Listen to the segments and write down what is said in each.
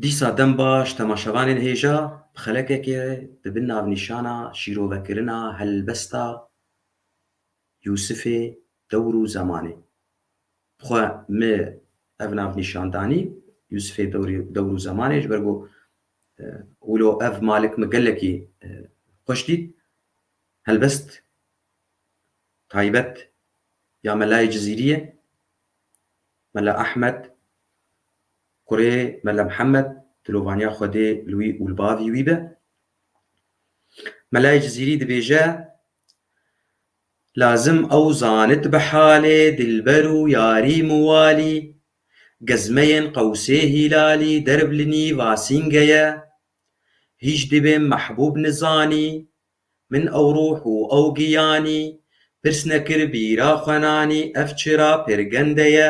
Dîsa dem baş temaşevanên hêja bi xelekekê di bin navnîşana Şîrovekirina helbesta Yûsifê dewr û zemanê xwe me ev navnîşan danî, Yûsifê dewr û zemanê ji ber ku wilo ev malik min gelekî xweş dît. Helbest taybet ya melayê Cizîrî ye. Mela Ehmed Kurê Mele Mihemed dilovaniya Xwedê li wî û li bavî wî be. Melayê Cizîrî dibêje, Lazim ew zanit bi halê dilber û yarî miwalî, gezmeyên qewsê hîlalî derv li nî vasînge ye. Hîj dibêm mehbûb nizanî, min ew ruh û ew giyanî, pirs nekir bîra xwe nanî ev çira pirgende ye.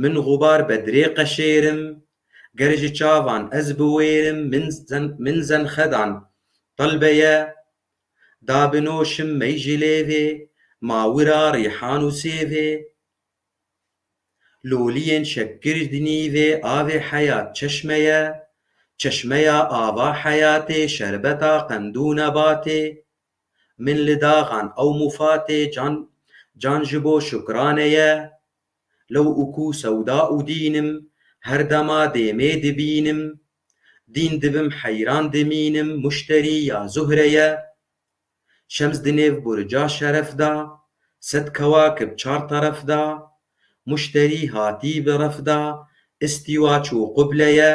Min xubar be dirê qeşêrim. Ger ji çavan ez biwêrim min zenxedan Talbe ye Da binoşim mey ji lêvê Ma wira rîhan û sêvê Loliyên şekir di nîvê Avê heyat çeşme ye Çeşmeya ava heyatê Şerbeta qend û nebatê Min li daxan ew mufatê Can can ji bo şukrane ye. Lew û ku sewda û dînim, her dema dêmê dibînim, dîn dibim heyran dimînim muşterî ya Zuhre ye. Şems di nêv burca şeref de, sed kewakib çar teref de, muşterî hatî bi ref de, îstîwa çû quble ye,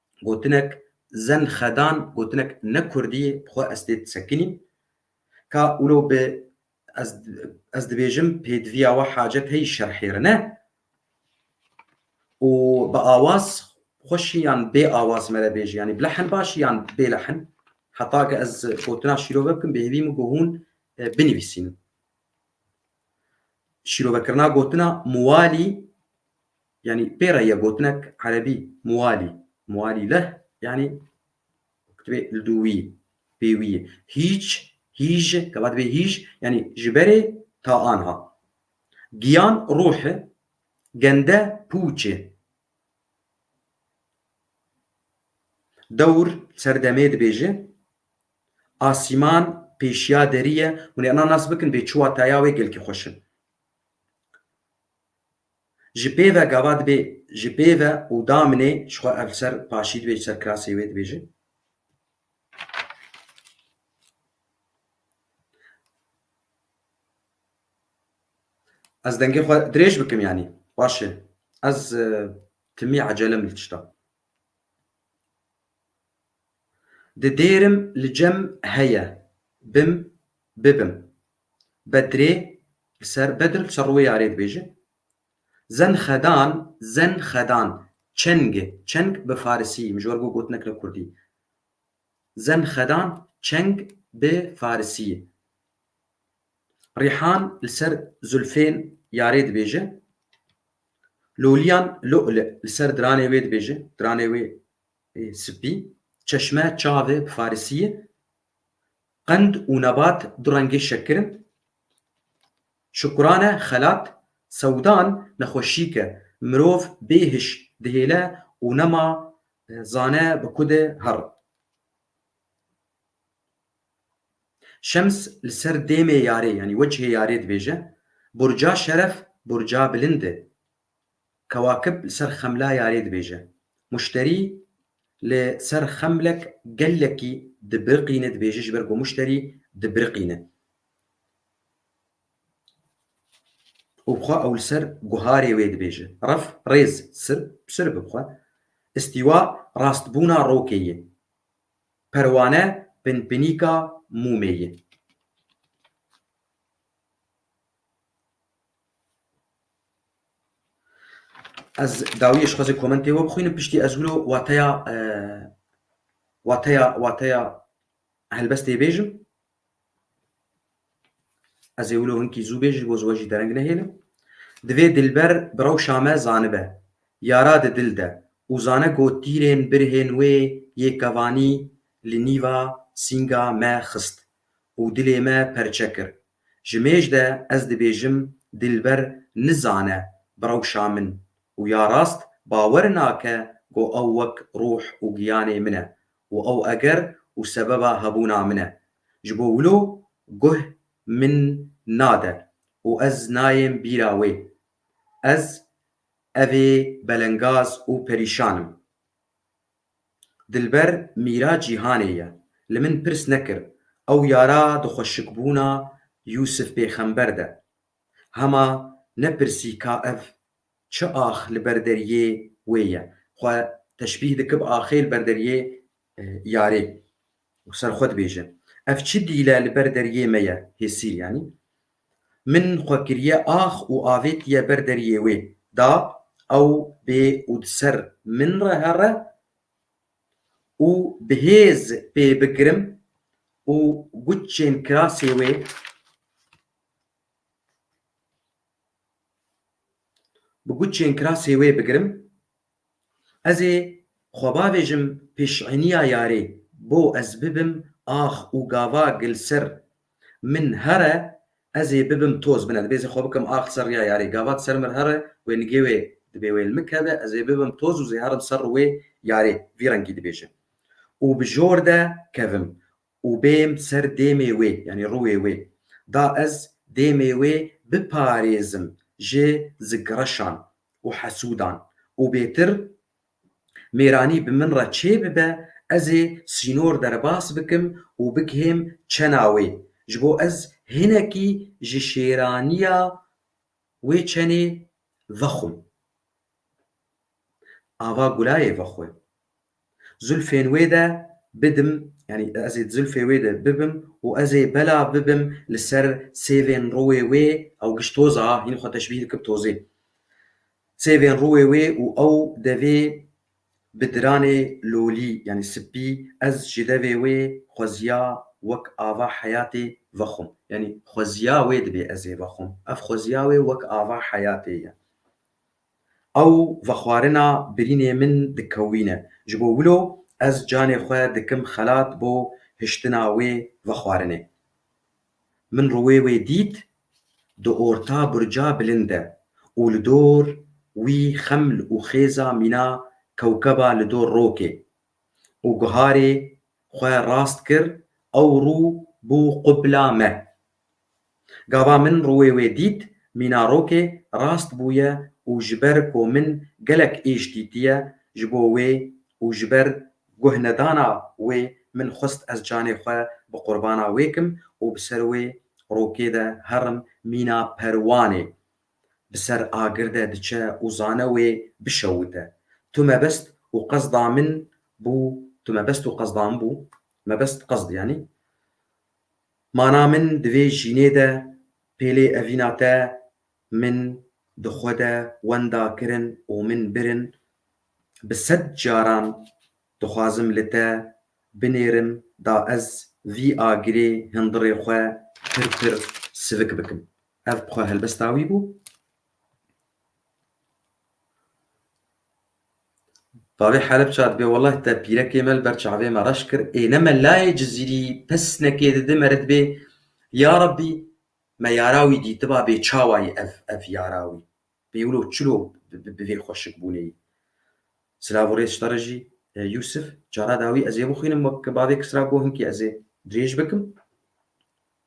Gotinek Zen xedan gotinek ne kurdî ye bi xwe ez tê disekinîm. Ka wilo bi ez ez dibêjim pêdiviya we hacet heyî şerhêrin e û bi awaz xweşî yan bê awaz me re bêjî yanî bi lehn başî yan bê lehn heta ke ez gotina şîrove bikim bi hêvî min ku hûn binivîsînin. Şîrovekirina gotina muwalî Yanî pê re ye gotinek erebî muwalî, muwalî leh yanî dibê li dû wî, pê wî ye. Hîç, hîj, gava dibê hîj yanî ji berê ta anha. Giyan ruh e, gende pûç e. Dewr ser demê dibêje, asîman pêşiya derî ye. Hûn ê inan nas bikin bê çi wataya wê gelkî xweş e. Ji pê ve gava dibê ji pê ve û damnê ji xwe ev li ser paşî dibê ji ser kirasê wê dibêje. Ez dengê xwe dirêj bikim yanî. Baş e. Ez timî ecelem li tişta. Di dêrim li cem heye bim bibim. Bedrê li ser Bedr li ser rûyê arê dibêjin. Zenxedan, Zenxedan, çeng e. Çeng bi farisî, min ji we re bû gotinek li kurdî. Zenxedan çeng bi farisî ye. Rîhan li ser zulfên yarê dibêjin. Lûliyan, Lu'lu', li ser diranê wê dibêjin, diranê wê ê spî. Çeşme, çav e, bi farisî ye. Qend û nebat du rengê şekir in. Şukurane, xelat, sewdan nexweşîk e. Mirov bê hiş dihêle û nema zane bi ku de her. Şems li ser dêmê yarê yanî wecihê yarê dibêje, Burca şeref, burca bilind e. Kewakib li ser xemla yarê dibêje. Muşterî li ser xemlek gelekî dibiriqîne dibêje ji ber ku muşterî dibiriqîne û xwe ew li ser guharê wê dibêje. Ref, rêz, sirb, sirb bi xwe. Îstîwa, rastbûna rokê ye. Perwane, pinpinîka mûmê ye. Ez dawiyê ji xwezê komentê we bixwînim piştî ez wilo wateya wateya wateya helbestê bêjim. Ez ê wilo hinkî zû bêjim ji bo ji we jî dereng nehêlim. Divê Dilber bi rewşa me zanibe, yara di dil de û zane ku tîrên birhên wê yê kevanî li nîva sînga me xist û dilê me perçe kir Ji mêj de ez dibêjim Dilber nizane birewşa min û ya rast bawer nake ku ew wek ruh û giyanê min e û ew eger û sebeba hebûna min e. Ji bo wilo guh min nade û ez nayêm bîra wê. Ez evê belengaz û perîşan im. Dilber mîra cîhanê ye. Li min pirs nekir ew yara dixweşikbûna Yûsif pêxember de. Hema nepirsî ka ev çi ax li ber deriyê wê ye. Xwe teşbîh dikib axê li ber deriyê yarê. û ser xwe dibêje, Ev çi dîl e li ber deriyê me ye, hêsîl yanî. Min xwe kiriye ax û avêtiye ber deriyê wê, da ew bê û di ser min re here û bi hêz pê bigirim û guçên kirasê wê bi guçên kirasê wê bigirim. Ez ê xwe bavêjim pêşîniya yarê bo ez bibim ax û gava gil ser min here ez ê bibim toz bine dibê ez ê xwe bikim ax ser riya yarê gava di ser mir here wê nigê wê dibê wê li min keve ez ê bibim toz û zê herim ser ri wê yarê vî rengî dibêje û bi jor de kevim Û bêm ser dêmê wê, yanî rûyê wê, da ez dêmê wê biparêzim ji zikreşan û hesûdan û bêtir mêranî bi min re çê bibe, ez ê sînor derbas bikim û bigihêm çena wê, ji bo ez hinekî ji şêranîya wê çenê vexwim. Ava Gulayê vexwe. Zilfên wê de bidim yanî ez ê di zilfê wê de bibim û ez ê bela bibim li ser sêvên rûê wê ew giş toz a hîn xwe teşbîh dikir bi tozê. Sêvên rûê wê û ew devê bi diranê lolî yanî sipî ez ji devê wê xweziya wek ava heyatê vexwim. Yanî xweziya wê dibê ez ê vexwim. Ev xweziya wê wek ava heyatê ye. Ew vexwarina birînê min dikewîne. Ji bo wilo ez canê xwe dikim xelat bo hiştina wê vexwarinê. Min rûyê wê dît di orta burca bilind de û li dor wî xeml û xêza mîna kewkeba li dor rokê û guharê xwe rast kir ew rû bû qubla me. Gava min rûyê wê dît, mîna rokê rast bûye û ji ber ku min gelek êş dîtiye ji bo wê û ji ber guhnedana wê min xwest ez canê xwe bi qurbana wê kim û bi ser wê rokê de herim mîna perwanê bi ser agir de diçe û zane wê bişewite. Tu mebest û qesda min bû tu mebest û qesda min bû mebest qesd yanî. Mana min di vê jînê de pêlê evîna te min di xwe de wenda kirin û min birin. Bi sed caran dixwazim li te binêrim da ez vî agirê hindirê xwe pir pir sivik bikim. Ev xwe helbesta wî bû. Bavê Helepça dibe welleh te pîrekê me li ber çavê me reş kir ê ne me layê Cizîrî pesnekê dide me re dibê Ya Rabbî me yara wî dîtiba bê çawa yî ev ev yara wî bê wilo çilo bi vê xweşikbûnê yî. Silav û rêz ji te re jî Yûsif. Cara dawî ez ê bixwînim wek bavê Kisra got hinkî ez ê dirêj bikim.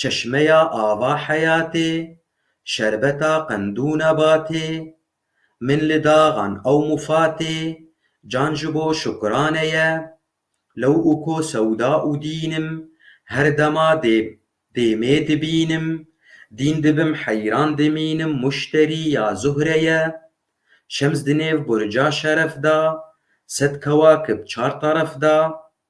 Çeşmeya ava heyatê, şerbeta qendû nebatê, Min li daxan ew mufatê, can ji bo şukrane ye, Lew û ko sewda û dînim, her dema dê dêmê dibînim, Dîn dibim heyran dimînim muşterî ya Zuhre ye, Şems di nêv burca şeref da, sed kewakib çar teref da,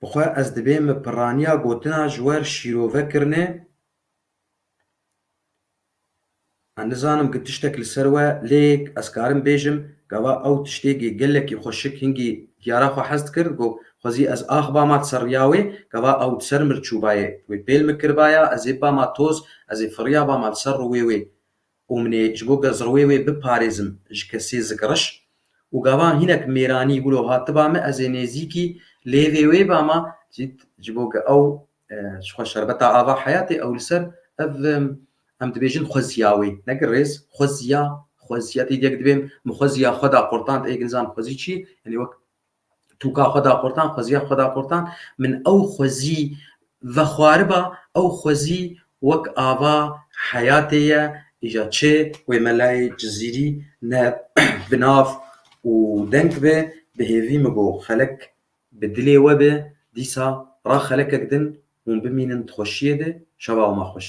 Bi xwe ez dibê min pirraniya gotina ji wer şîrove kirine, ez nizanim ku tiştek li ser we lê ez karim bêjim gava ew tiştêkê gelekî xwe şik hingî diyara xwe hez dikir, got, Xwezî ez axbama di ser riya wê gava ew di ser min çûbayê, wê pêl min kiribaya, ez ê bibama toz, ez ê firiya bama li ser rûwê wê. Û min ê ji bo gezrowê wê biparêzim ji kesê zikiriş û gava hinek mêranî wilo hatiba min ez ê nêzîkî lêvê wê bama cît ji bo ge ew ji xwe şerbeta ava heyatê ew li ser ev em dibêjin xweziya wê neke rêz xweziya xweziya tê diyek dibêm min xweziya xwe da qurtand ê ginizan xwezî çi ye yanî wek Tu ka xwe da qurtan, xweziya xwe da qurtan, min ew xwezî vexwariba, ew xwezî wek ava heyatê ye, îja çi wê melayê Cizîrî ne bi nav û deng be, bi hêvî min got, xelek bi dilê we be, dîsa ra xelekek din, hûn bimînin di xweşiyê de, şeva wima xweş.